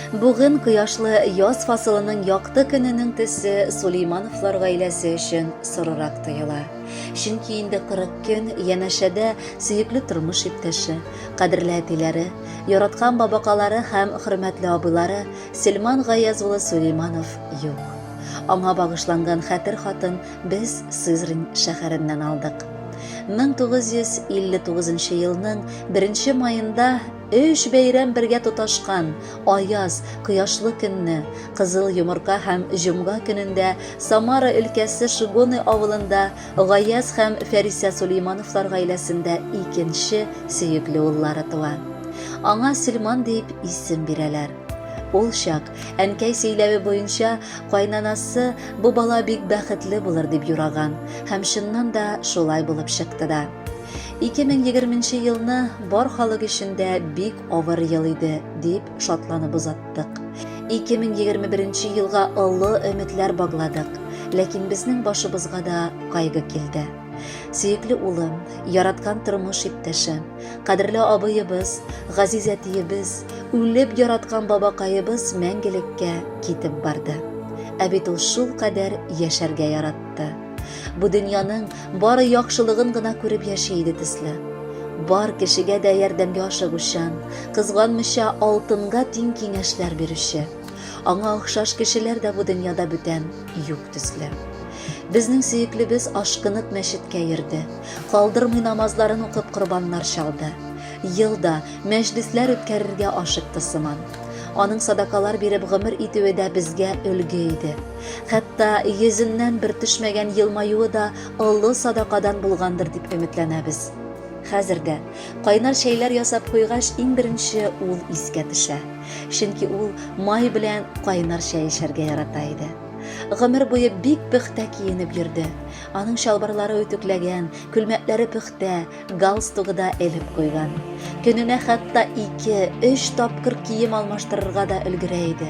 Бүген кояшлы яз фасылының якты көненең төсе Сулеймановлар гаиләсе өчен сорырак тоела. Чөнки инде 40 көн янәшәдә сөекле тормыш иптәше, кадерле әтиләре, яраткан бабакалары һәм хөрмәтле абыйлары Сельман Гаяз улы Сулейманов юк. Аңа багышланган хәтер хатын без Сызрань шәһәреннән алдык. 1959 елның 1 маенда өч бәйрәм бергә тоташкан аяз, кояшлы көнне, кызыл йомырка һәм җомга көнендә Самара өлкәсе Шигоны авылында Гаяз һәм Фәрисә Сулеймановлар гаиләсендә икенче сөекле уллары туа. Аңа Сөлман дип исем бирәләр. Ул чак Әнкәй сөйләве буенча, кайнанасы бу бала бик бәхетле булыр дип юраган, һәм чыннан да шулай булып чыкты да. 2020 нче елны бар халык өчен дә бик авыр ел иде, дип шатланып озаттык. 2021 нче елга олы өметләр багладык, ләкин безнең башыбызга да кайгы килде. Сөекле улым, яраткан тормыш иптәшем, кадерле абыебыз, газиз әтиебез, үлеп яраткан бабакаебыз мәңгелеккә китеп барды. Ә бит ул шул кадәр яшәргә яратты. Бу дөньяның бары яхшылыгын гына күреп яши иде төсле. Бар кешегә дә ярдәмгә ашыгучан, кызганмыйча алтынга тиң киңәшләр бирүче. Аңа охшаш кешеләр дә бу дөньяда бүтән юк төсле. Безнең сөеклебез ашкынып мәчеткә йөрде. Калдырмый намазларын укып корбаннар чалды. Ел да мәҗлесләр үткәрергә ашыкты сыман. Аның садакалар биреп гомер итүе дә безгә өлге иде. Хәтта йөзеннән бер төшмәгән елмаюы да олы садакадан булгандыр дип өметләнәбез. Хәзер дә кайнар чәйләр ясап куйгач, иң беренче ул искә төшә. Чөнки ул май белән кайнар чәй эчәргә ярата иде. Гомер буе бик пөхтә киенеп йөрде. Аның чалбарлары үтүкләгән, күлмәкләре пөхтә, галстугы да элеп куйган. Көненә хәтта ике, өч тапкыр кием алмаштырырга да өлгерә иде.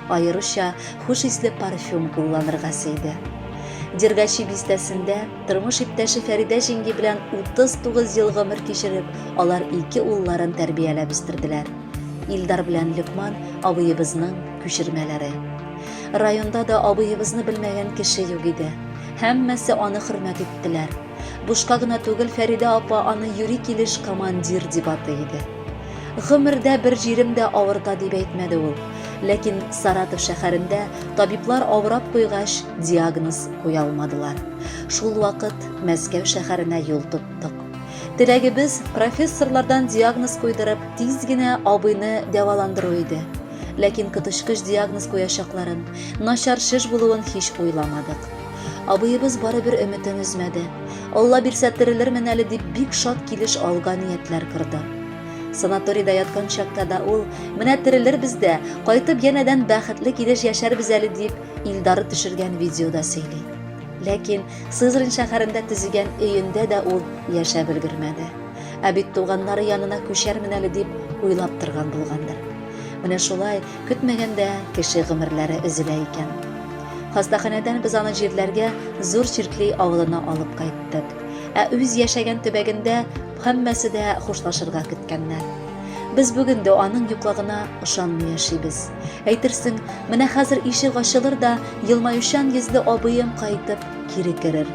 Аеруча хуш исле парфюм кулланырга сөйде. Дергачи бистәсендә тормыш иптәше Фәридә җиңги белән 39 ел гомер кичереп, алар ике улларын тәрбияләп үстерделәр. Илдар белән Люкман абыебызның күчермәләре. Районда да абыебызны белмәгән кеше юк иде. Һәммәсе аны хөрмәт иттеләр. Бушка гына түгел, Фәридә апа аны юри килеш командир дип атый иде. Гомердә бер җирем дә авырта дип әйтмәде ул. Ләкин Саратов шәһәрендә табиблар авырап куйгач, диагноз куя алмадылар. Шул вакыт Мәскәү шәһәренә юл тоттык. Теләгебез профессорлардан диагноз куйдырып, тиз генә абыйны дәваландыру иде. Ләкин коточкыч диагноз куячакларын, начар шеш булуын һич уйламадык. Абыебыз барыбер өметен өзмәде. Алла бирсә терелермен әле дип бик шат килеш алга ниятләр корды. Санаторийда яткан чакта да ул, менә терелербез дә, кайтып янәдән бәхетле килеш яшәрбез әле дип, Илдары төшергән видеода сөйли. Ләкин Сызрань шәһәрендә төзегән өендә дә ул яшәп өлгермәде. Ә бит туганнары янына күчәрмен әле дип уйлап торган булгандыр. Менә шулай көтмәгәндә кеше гомерләре өзелә икән. Хастаханәдән без аны җирләргә Зур Чиркли авылына алып кайттык. Ә үз яшәгән төбәгендә һәммәсе дә хушлашырга көткәннәр. Без бүген дә аның юклыгына ышанмый яшибез. Әйтерсең, менә хәзер ишек ачылыр да, елмаючан йөзле абыем кайтып кире керер.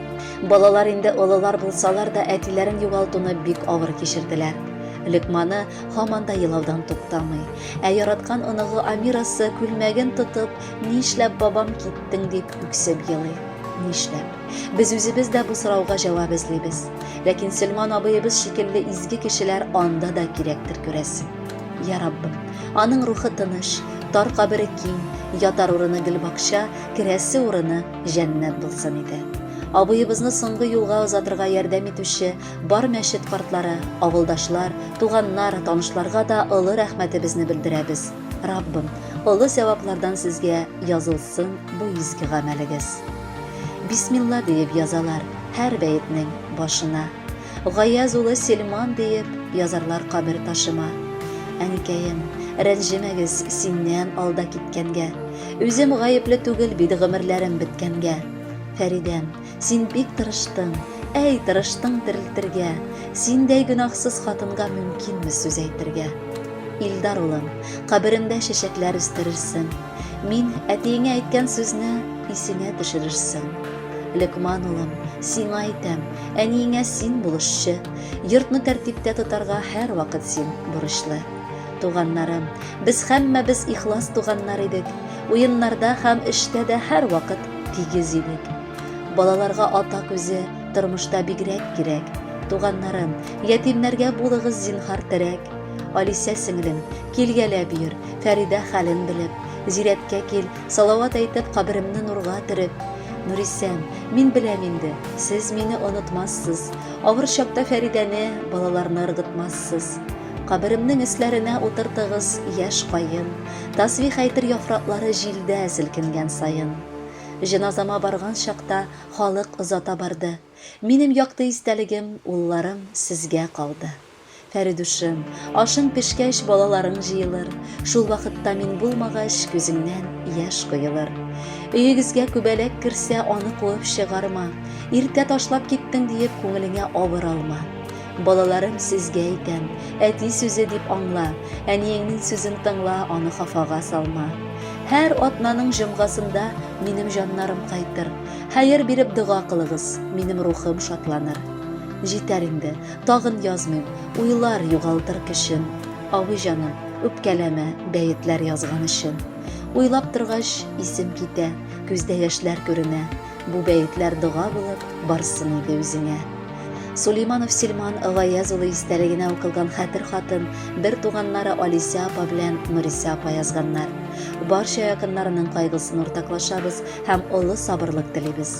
Балалар инде олылар булсалар да әтиләрен югалтуны бик авыр кичерделәр. Лекманы һаман да елаудан туктамый. Ә яраткан оныгы Амирасы күлмәген тотып, нишләп бабам киттең дип үксеп елый. Нишләп? Без үзебез дә бу сорауга җавап эзлибез. Ләкин Сөлман абыебыз шикелле изге кешеләр анда да кирәктер күрәсең. Я Раббым, аның рухы тыныч, тар кабере киң, ятар урыны гөлбакча, керәсе урыны Җәннәт булсын иде. Абыебызны соңгы юлга озатырга ярдәм итүче бар мәчет картлары, авылдашлар, туганнар, танышларга да олы рәхмәтебезне белдерәбез. Раббым, олы сәваплардан сезгә язылсын бу изге гамәлегез. Бисмилла диеп язалар һәр бәетнең башына. Гаяз улы Сельман диеп язарлар кабер ташыма. Әнкәем, рәнҗемәгез, синнән алда киткәнгә. Үзем гаепле түгел бит гомерләрем беткәнгә. Фәридәм, син бик тырыштың, әй, тырыштың терелтергә. Синдәй гөнаһсыз хатынга мөмкинме сүз әйтергә? Илдар улым, каберемдә чәчәкләр үстерерсең. Мин әтиеңә әйткән сүзне исеңә төшерерсең. Лекман улым, сиңа әйтәм, әниеңә син булышчы. Йортны тәртиптә тотарга һәрвакыт син бурычлы. Туганнарым, без һәммәбез ихлас туганнар идек. Уеннарда һәм эштә дә һәрвакыт тигез идек. Балаларга ата күзе тормышта бигрәк кирәк. Туганнарым, ятимнәргә булыгыз зинһар терәк. Алисә сеңлем, Килгәләп йөр, Фәридә хәлен белеп, Зирәткә кил, салават әйтеп Каберемне нурга төреп. Нурисән, мин беләм инде, Сез мине онытмассыз, Авыр чакта Фәридәне, Балаларны ыргытмассыз. Каберемнең өсләренә утыртыгыз Яшь каен, тасбих әйтер Яфраклары җилдә селкенгән саен. Җеназама барган чакта Халык озата барды. Минем якты истәлегем, Улларым, сезгә калды. Фәридушым, ашың пешкәч, балаларың җыелыр, шул вакытта мин булмагач, күзеңнән яшь коелыр. Өегезгә күбәләк керсә, аны куып чыгарма, иртә ташлап киттең диеп, күңелеңә авыр алма. Балаларым, сезгә әйтәм, әти сүзе дип аңла, әниеңнең сүзен тыңла, аны хафага салма. Һәр атнаның җомгасында минем җаннарым кайтыр. Хәер биреп дога кылыгыз, минем рухым шатланыр. Җитәр инде, Тагын язмыйм, уйлар югалтыр көчен, Авый җаным, үпкәләмә, бәетләр язган өчен. Уйлап торгач, исем китә, күздә яшьләр күренә, Бу бәетләр дога булып барсын иде үзеңә. Сулейманов Силман Гаяз улы истәлегенә укылган хәтер хатын бер туганнары Алисә апа белән Нурисә апа язганнар. Барча якыннарының кайгысын уртаклашабыз һәм олы сабырлык телибез.